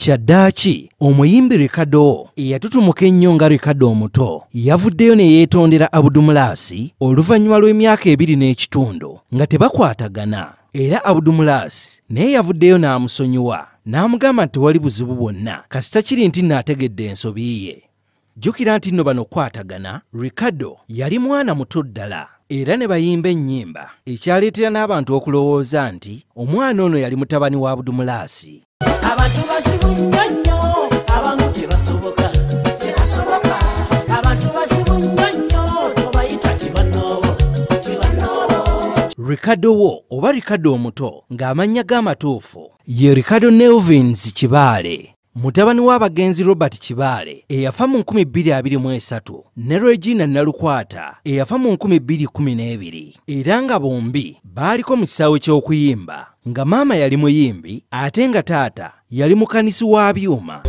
Kyaddaaki omuyimbi Ricardo eyatutumuka ennyo nga Ricardo omuto yavuddeyo ne yeetondera Abudumulaasi oluvannyuma lw'emyaka ebiri n'ekitundu nga tebakwatagana era Abudumulaasi naye yavuddeyo n'amusonyiwa n'amugamba nti tewali buzibu bwonna kasita kiri nti naategedde ensobi ye. jjukira nti nno bano kwatagana ricardo yali mwana muto ddala era ne bayimba ennyimba ekyaleetera n'abantu okulowooza nti omwana ono yali mutabani wa budumulaasi abantu bazibu nnyo nnyo abamu tebasoboka ricardo wo oba ricardo omuto ng'amannya g'amatuufu ye ricardo nelvins kibaale Mutabani w'abagenzi Robert Kibaale eyafa mu 2023 ne Regina Nalukwata eyafa mu 2012 era nga bombi baaliko mu kisaawe ky'okuyimba nga maama yali muyimbi ate nga taata yali mukanisi wa byuma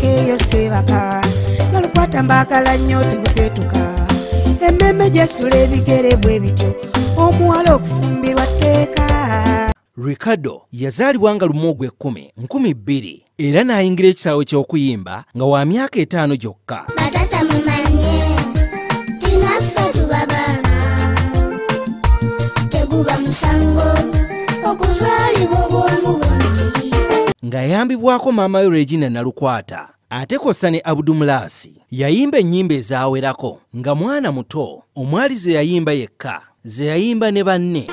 emmeeme gyesula ebigere bwe bityo omuwala okufumbirwa tteeka Ricardo yazaalibwa nga lumu ogw'ekkumi nkumi bbiri era n'ayingira ekisaawe ky'okuyimba nga wa myaka etaano gyokka. Ng'ayambibwako maama we Regina Nalukwata, Ate kosa ne Abudumulaasi yayimba ennyimba ezawerako nga mwana muto omwali ze yayimba yekka ze yayimba ne banne.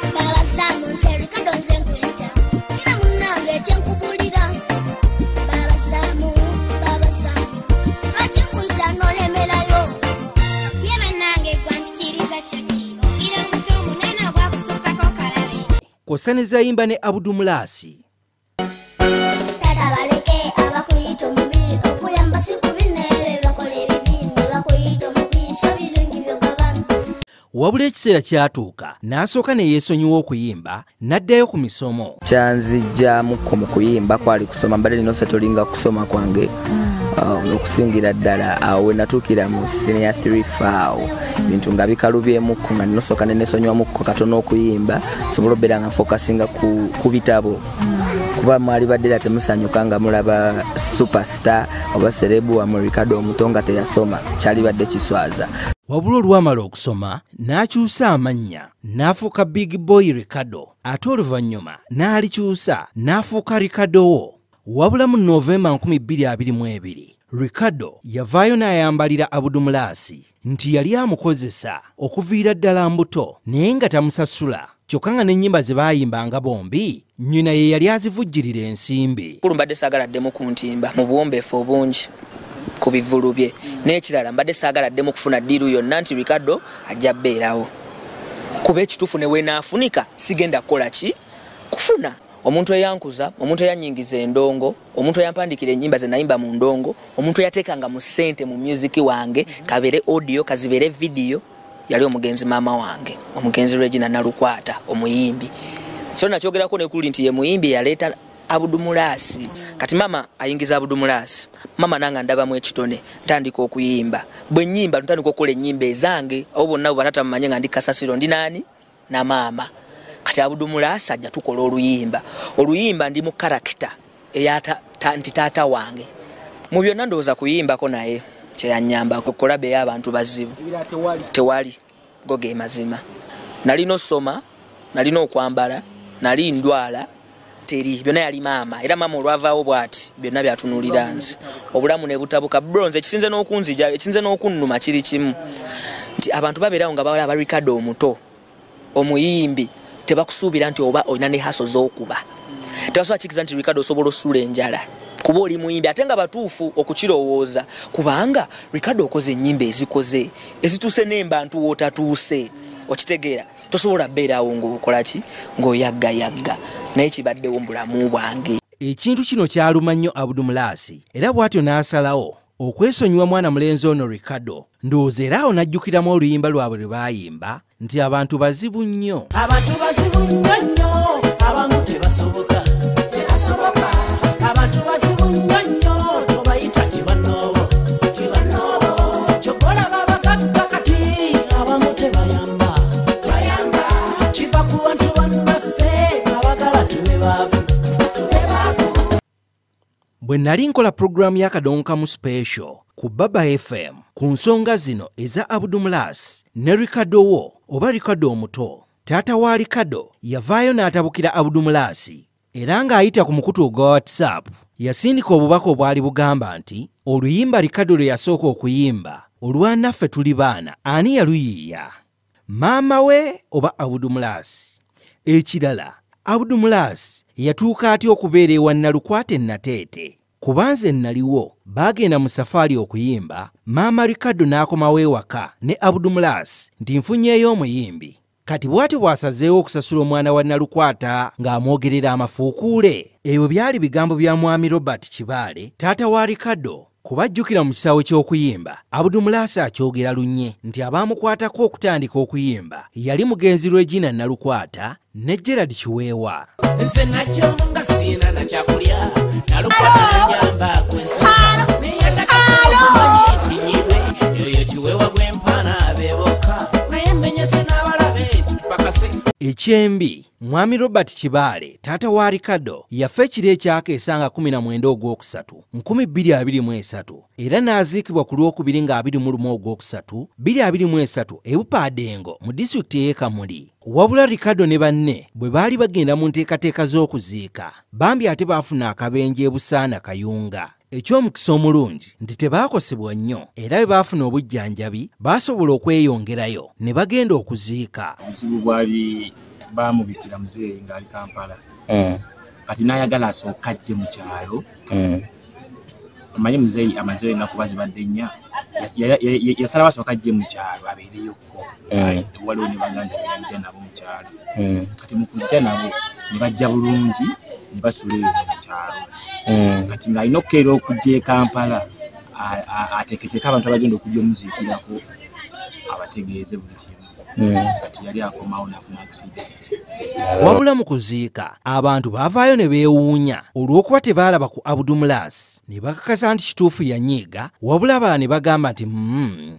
Kosane zayimba ne Abudumulaasi wabula ekiseera kyatuuka n'asooka ne yeesonyiwa okuyimba n'addayo ku misomo kyanzijjamukko mu kuyimba kwali kusoma mbadde nina osatolinga kusoma kwange um, okusingira ddala awo we natuukira mu siniya 3 faawo bintu nga bikalubyemukko nga ninosooka nenesonyiwamukko katono okuyimba sobola obeera nga focusinga ku, ku bitabo kuba mwali baddera temusanyuka nga mulaba superstar oba serebu wamwe ricardo omuto nga teyasoma kyali badde kiswaza wabula olwamala okusoma n'akyusa amannya n'afuuka big boy ricardo ate oluvannyuma n'alikyusa n'afuuka ricardo wo wabula mu novemba 2022 ricardo yavaayo n'ayambalira abudumulaasi nti yali amukozesa okuviira ddala mbuto naye nga tamusasula kyokka nga n'ennyimba ze baayimbanga bombi nnyina ye yali azivujjirira ensimbi kulu mbadde saagala addemu ku ntimba mu buwombeefu obungi ku bivulu bye n'ekirala mbadde saagala addemu kufuna ddiiru yonna nti ricardo ajja bbeerawo kuba ekituufu ne weenaafunika sigenda kukola ki kufuna omuntu eyankuza omuntu eyanyingiza endongo omuntu eyampandikira enyimba zenayimba mu ndongo omuntu eyatekanga mu sente mu musiki wange kabere audio kazibere vidiyo yali omugenzi maama wange omugenzi regina nalukwata omuyimbi so nakyogerako nekuli nti ye muyimbi eyaleeta abudumulaasi kati maama ayingiza abudumulaasi maama nanga ndabamu ekitone ntandika okuyimba bwenyimba ntandika okukola enyimba ezange abo bonna bwe banatamumanye nga ndi kasasiro ndi naani na maama kati abudumula asajja tukola oluyimba oluyimba ndi mu karakita eya nti taata wange mu byonna ndowooza kuyimbako naye kyeyanyamba kukulabe eyo abantu bazibu tewali go ge mazima nalina osoma nalina okwambala nali ndwala teri byonna yali maama era maama olwavaawo bwati byonna byatunulira nze obulamu nebutabuka bro nze ekisinze n'okunzija ekisinze n'okunnuma kiri kimu nti abantu babeerawo nga bawala abarikado omuto omuyimbi tebakusuubira nti oba olina ne haso z'okuba tebasobola kikiriza nti rikado osobola osula enjala kuba oli muyimbi ate nga batuufu okukirowooza kubanga rikado okoze ennyimba ezikoze ezituuse n'embantu wootatuuse okitegeera tosobola beerawo ngaokolaki ngaoyaggayagga naye kibaddewo mu bulamu bwange ekintu kino kyaluma nnyo abudumulaasi era bw'atyo n'asalawo okwesonyiwa mwana mulenzi ono ricardo ndowooza era awo n'ajjukiramu oluyimba lwabwe lwe baayimba nti abantu bazibu nnyo abantu bazibu nnyo nnyo abamu tebasoboka tebasoboka abantu bazibu nnyo nnyo tobayita tibanoobo tibanoobo kyokola babagagga kati abamu tebayamba bwe nali nkola pulogulaamu y'akadonka mu special ku baba fm ku nsonga zino eza abudumulas ne rikado wo oba rikado omuto taata wa rikado yavaayo n'atabukira abudumulaasi era ng'ayita ku mukutu ogwa whatsapp yasindika obubaka obwali bugamba nti oluyimba rikado lwe yasooka okuyimba olwanaffe tuli baana ani yaluyiiya maama we oba abudumulaasi ekirala abudumulaasi yatuuka atya okubeera ewa nalukwata ennateete kuba nze nnaliwo baagenda mu safaali okuyimba maama rikado n'akomawo ewaka ne abudumulaasi nti nfunyeeyo omuyimbi kati bwatyo bw'asazeewo okusasula omwana wa Nalukwata ng'amwogerera amafuukuule. Ebyo byali bigambo bya Mwami Robert Kibaale, taata wa Ricardo, kubajjukira mu kisaawe ky'okuyimba abudu mulaasi akyogera lunye nti abaamukwatako okutandika okuyimba yali mugenzi regina nalukwata ne gerard kiweewa nze nakyo nga siina nakyakulya nalukwatanyamba kwensala naye takaaokumanya ekinyirwe yoyo kiwewa gwempaana beboka naye menyese n'abalabe tupakase ekyembi mwami robert kibaale taata wa ricardo yafa ekiro ekyaka esanga 19 ogwokusatu 223 era n'aziikibwa ku lwokubiri nga 21 ogwokusatu 223 ebupaadeengo mu disitulikiti ey'ekamuli wabula ricardo ne banne bwe baali bagenda mu nteekateeka z'okuziika bambi ate baafuna akabenje ebusaana kayunga eky'omukisa omulungi nti tebaakosebwa nnyo era bwe baafuna obujjanjabi baasobola okweyongerayo ne bagenda okuziika obuzibu bwali baamubikira muzeeyi ng'ali kampala eh. kati n'ayagala asooka ajje mu kyalo eh. omanyi muzeeyi amazeyo ennaku ba zibadde nnya yasalawo asooka ajje mu kyalo abeereyo eh. waliwo ne baganda banja nabo mukyalo eh. kati mukuja nabo ne bajja bulungi ne basula eyo mukyalo eh. kati ng'alina okukeera okujja e kampala ateketeka abantu abagenda okujja omuziikirako abategeeze buli kimu kati yali akomawo nafuna accident wabula mu kuziika abantu baavaayo ne beewuunya olw'okuba tebaalaba ku abudumulaasi ne bakakasa nti kituufu yanyiiga wabula abalala ne bagamba nti mm,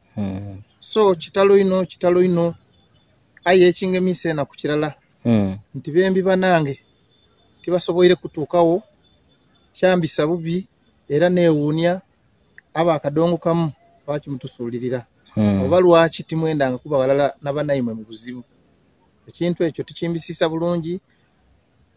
hmm. so kitalo ino kitalo ino aye ekingemisa enaku kirala hmm. nti bembi banange tibasoboire kutuukawo kyambisa bubi era newuunya aba akadongo kamu lwaki mutusuulirira hmm. oba lwaki timwendanga kuba walala nabanaimwe mu buzibu ekintu ekyo tukimbisiisa bulungi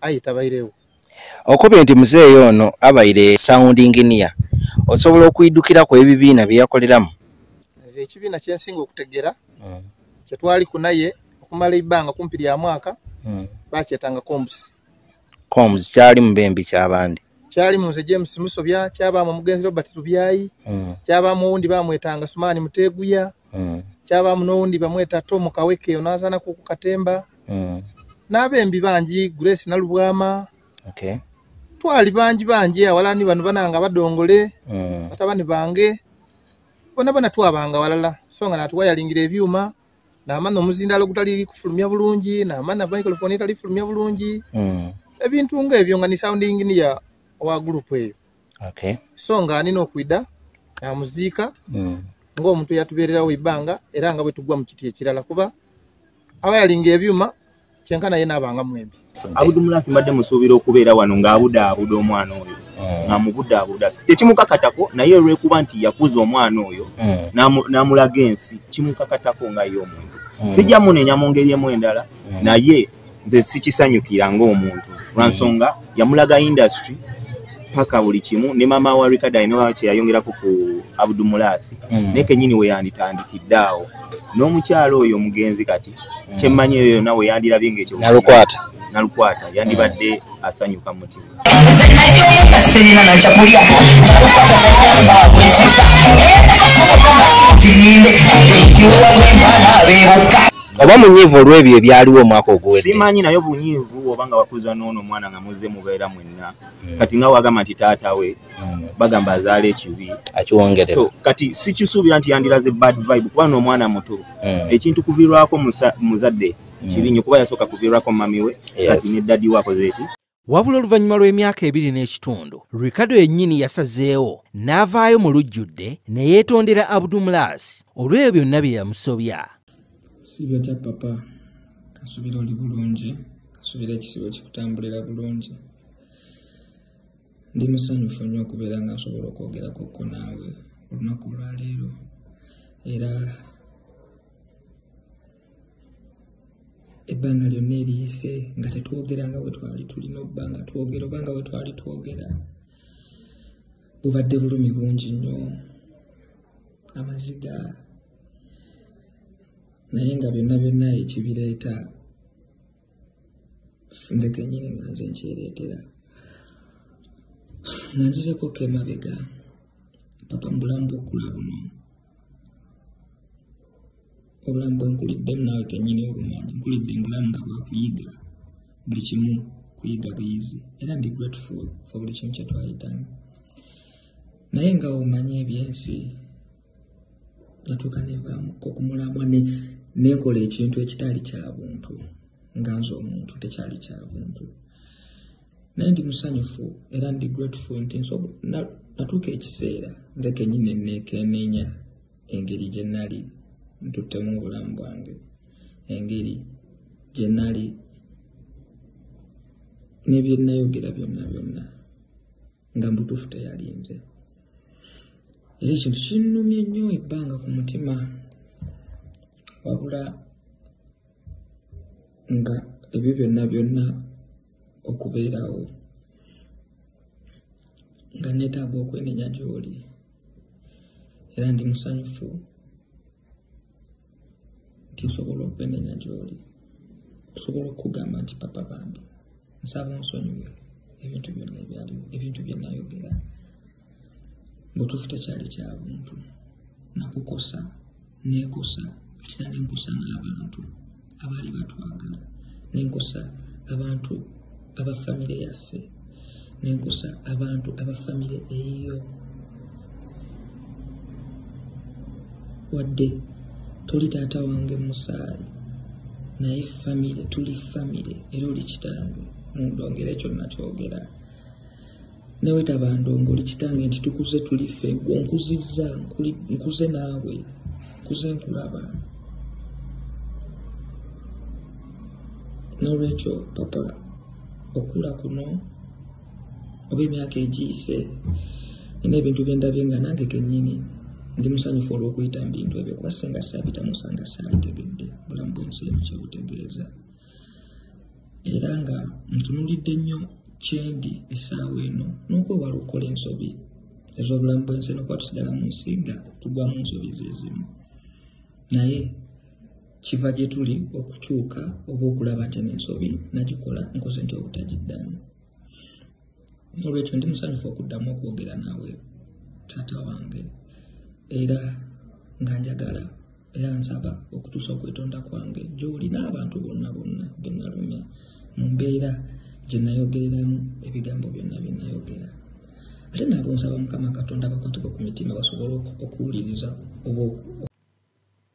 ayi tabairewo okubye nti muzeeyi ono abaire sound engineer osobola okuyidukira ku ebibiina bye yakoleramu nze ekibiina kye nsinga okutegera hmm. kye twali ku naye okumala ebbanga kumpi lya mwaka hmm. bakyetanga combs combs kyali mu bembi kyabandi kyali mu nze james musobya kyabaamu omugenzi robert lubyayi hmm. kyabaamu owundi bamwetanga sumaani muteeguya mm. kyabamu nowundi bamweta to mukaweke onazanaku ku katemba mm. nabembi bangi grace nalubwama okay. twali bangi bangi awalani bano bananga badongole mm. batabani bange bona bona twabanga walala so nga natuwa yalingira ebyuma namana omuzindalo gutali kufulumya bulungi namana microphone etali fulumya bulungi mm. ebintu nga ebyo nga ni sounding niya owa group eyo okay. so nga anina okwida namuziika mm. ngaomuntu yatubererawo ibanga era nga bwetugwa mukiti ekirala kuba aba yalinga ebyuma kyenkana ye nabanga mwembi abudu mulasi mbadde musuubira okubeera wano ngaabuda abuda omwana oyo mm. namubuda abuda tekimukakatako naye olwekuba nti yakuza omwana oyo mm. namulaga ensi kimukakatako nga ye omuntu mm. sijja munenya mu ngeri emu endala naye nze sikisanyukira ng'omuntu lwansonga yamulaga industry paka buli kimu ne mama wa Richard Ainoa kyeyayongerako ku Abdu Mulasi mm. naye kenyini we yanditandikidde awo n'omukyalo oyo omugenzi kati mm. kyemmanyi eyo yonna we yandirabye ng'ekyo nalukwata nalukwata yandibadde mm. asanyuka mutima oba munyiivu olw'ebyo ebyaliwo omwaka oguwedde simanyi naye obunyiivu oba nga wakuza n'ono omwana nga muzze mubeera mwenna hmm. kati nga wagamba nti taata we hmm. bagamba azaala ekibi akiwongere so kati sikisuubira nti yandiraze bad vibe kuba n'omwana muto hmm. ekintu kuvirwako muzadde kibi nnyo kuba yasooka kuvirwako mami we kati ne dadi we akoze eki wabula oluvannyuma lw'emyaka ebiri n'ekitundu ricardo yennyini yasazeewo n'avaayo mu lujjudde ne yeetondera abdumulaasi olw'ebyo byonna bye yamusobya sibyotya papa kasubira oli bulungi kasubira ekisibo kikutambulira bulungi ndi musanyufu nnyo okubeera nga nsobola okwogerakokko naawe olunaku olwaleero era ebbanga lyonna eriyise nga tetwogera nga wetwali tulina obba nga twogera oba nga wetwali twogera bubadde bulumi bungi nnyo amaziga naye nga byonna byonna ekibireeta nze kenyini nga nze nkyereetera nga nzizeko kemabega papa mu bulamu bwokkula buno obulamu bwenkuliddemu naawe kenyini obumanyi nkulidde mubulamu nga bwakuyiga buli kimu kuyiga buyizi era ndi grateful for buli kimu kyetwayitamu naye nga omanyi ebyensi natuuka nenvamuko kumulamwa nekola ekintu ekitaali kya buntu nga nze omuntu tekyali kya buntu naye ndi musanyufu era ndi grateful nti natuuka ekiseera nze kenyini nekenenya engeri gye nali ntuttemu obulamu bwange engeri gye nali nebyenayogera byonna byonna nga mbutuufu teyalinze era ekintu kinnumye nnyo ebbanga ku mutima wabula nga ebyo byonna byonna okubeerawo nga neetaaga okwenenya gy'oli era ndi musanyufu nti nsobola okwenenya gy'oli okusobola okukugamba nti papa bambi nsaba onsonyiwe ebintu byonna ebyaliwo ebintu byenayogera mubutuufu tekyali kya buntu nakukosa nekosa atera nenkosa n'abantu abaali batwagala nenkosa abantu aba famire yaffe nenkusa abantu aba famire eyiyo wadde toli taata wange musaayi naye famire tuli famire era oli kitange mundongera ekyo nakyogera newetaba ndongo oli kitange nti tukuze tuli ffe gwe nkuzizza nkuze naawe nkuze nkulaba nolwekyo papa okula kuno oba emyaka egiyise nina ebintu byendabye nga nange kenyini ndi musanyufu olwokuyita mu bintu ebyo kuba singa saabitamu sanga saabitegedde bulamu bwensi emu kyebutegeeza era nga ntunulidde nnyo kyendi essaawa eno n'okwewala okukola ensobi ez'obulamu bwensi nokuba tusigala mu nsi nga tugwa mu nsobi zezimu naye kiva gye tuli okukyuka oba okulaba nti ensobi nagikola nkoze nti obutagiddamu nolwekyo ndi musanyufu okuddamu okwogera naawe taata wange era nga njagala era nsaba okutuusa okwetonda kwange gyoli n'abantu bonna bonna benalumya mu mbeera gye nayogereramu ebigambo byonna bye nayogera ate nabo nsaba mukama katonda bakwateko ku mitima basobole okuwuliriza oba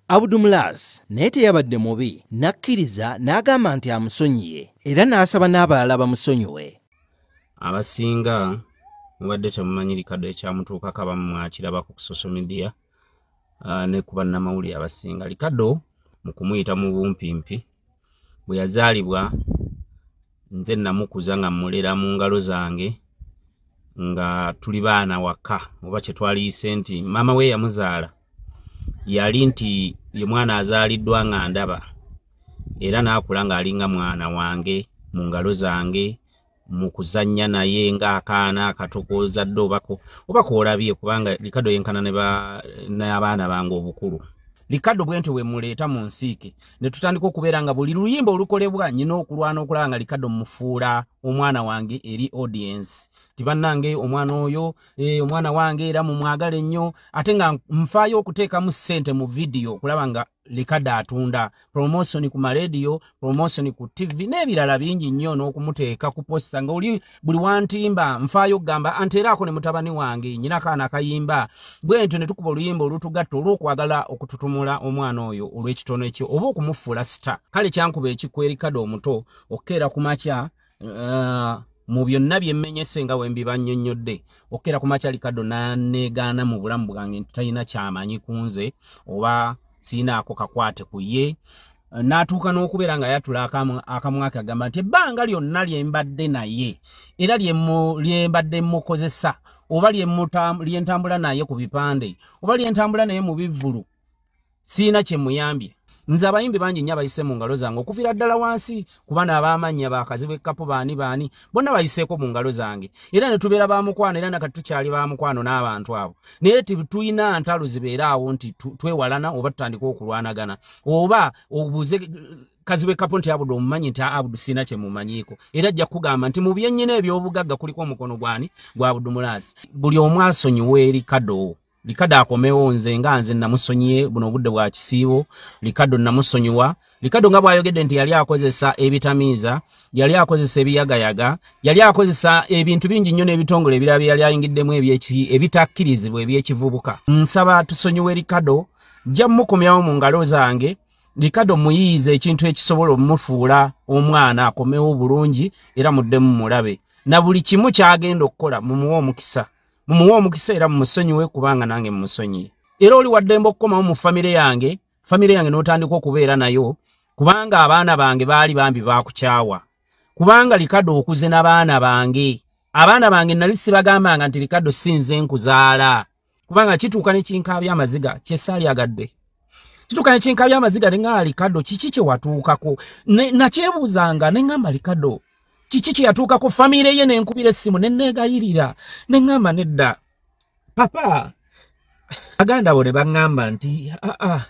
Abudumulaas naye teyabadde mubi n'akkiriza n'agamba nti amusonyiye era n'asaba n'abalala bamusonyiwe. Abasinga mubadde temumanyi likado ekyamutuukako abamu mwakirabako ku social media ah, ne ku bannamawulire abasinga likado mu kumuyita mu bumpimpi bwe yazaalibwa nze namukuza nga mmulera mu ngalo zange nga tuli baana waka oba kye twaliyise nti maama we yamuzaala yali nti ye mwana azaaliddwa nga ndaba era n'akula ng'alinga mwana wange mu ngalo zange mu kuzannya naye ng'akaana akato k'ozadde obako oba koolabye kubanga likado yenkana n'abaana bange obukulu likado bwentyo bwe muleeta mu nsiike ne tutandika okubeera nga buli luyimba olukolebwa nyina okulwana okulaba nga likado mufuula omwana wange eri audience ti bannange omwana oyo eh, omwana wange era mumwagale nnyo ate nga nfaayo okuteekamu ssente mu vidiyo okulaba nga likade atunda promotion ku maradio promotion ku tv n'ebirala bingi nnyo n'okumuteeka ku posta nga oli buli wantimba nfaayo okugamba anti era ako ne mutabani wange nyina kaana akayimba bwe ntyo ne tukuba oluyimba olutugatta olw'okwagala okututumula omwana oyo olw'ekitono ekyo oba okumufuula sita kale kyankuba ekikwerikade omuto okukeera ku makya uh, mu byonna byemmenyese nga wembibannyonnyodde okukera ku makyali kaddo naneegaana mu bulamu bwange nti talina kyamanyi ku nze oba siinaako kakwate ku ye n'atuuka n'okubeera nga yatula akamwaka agamba nti ebbanga lyonna lye mbadde naye era lye mbadde mukozesa oba lyentambula naye ku bipande oba lyentambula naye mu bivvulu siina kyemuyambye nze abayimbi bangi nnyo abayise mu ngalo zange okuviira ddala wansi kuba n'abaamannya bakazibwa ekkapu baani baani bonna bayiseeko mu ngalo zange era ne tubeera ba mukwano era nakati tukyali ba mukwano n'abantu abo naye tulina ntalo zibeera awo nti twewalana oba tutandika okulwanagana oba obuze kazibwa ekkapu nti abudu omumanyi nti abudu sirina kye mumanyiiko era ajja kugamba nti mu byennyina eby'obugagga kuliko omukono gwani gwa budumulaasi buli omwasonyiwa eri kadoowo likado akomewo nze nga nze namusonyiye buno obudde bwa kisiibo likado namusonyiwa likado nga bwayogedde nti yali akozesa ebitamiiza yali akozesa ebiyagayaga yali akozesa ebintu bingi nnyo n'ebitongole ebirala bye yali ayingiddemu ebitakkirizibwa ebyekivubuka nsaba tusonyiwe likado nja mukomyawo mu ngalo zange likado muyiiza ekintu ekisobola omufuula omwana akomewo bulungi era muddemu mulabe na buli kimu kyagenda okukola mumuwe omukisa mumuwe omukisa era mumusonyiwe kubanga nange mumusonyiye era oli waddembe okukomawo mu famire yange famire yange n'otandika okubeera nayo kubanga abaana bange baali bambi baakukyawa kubanga likado okuze n'abaana bange abaana bange nali sibagambanga nti likado sinze nkuzaala kubanga kituuka nekinkaabya amaziga kyesaalyagadde kituuka nekinkaabya amaziga ne nga likado kiki kyewatuukako nakyebuuzanga ne ngamba likado kiki kye yatuuka ku famiire ye ne nkubira essimu ne nneegayirira ne ŋŋamba nedda papa aganda bo ne baŋŋamba nti aa ah, ah,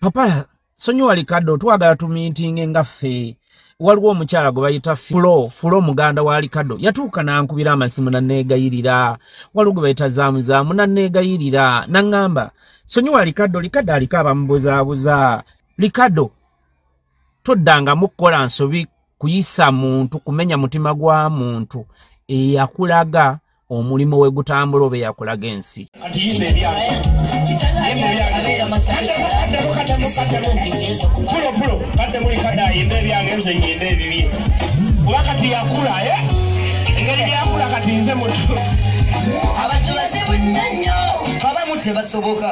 papa sonyiwa likadde otwagala tumiitinge nga ffe waliwo omukyala gwe bayita fulo fulo muganda wa likado yatuuka n'ankubira amasimu nanneegayirira waliwo gwe bayita zaamuzaamu nanneegayirira naŋŋamba sonyiwa likado likado aliko abamubuzaabuza likado toddangamu kukola nsobi kuyisa muntu kumenya mutima gwa muntu eyakulaga omulimu we gutambula oba eyakulaga ensi wakati yakula eh? engeri yakula kati nze mutu abantu bazibu nnyo abamu tebasoboka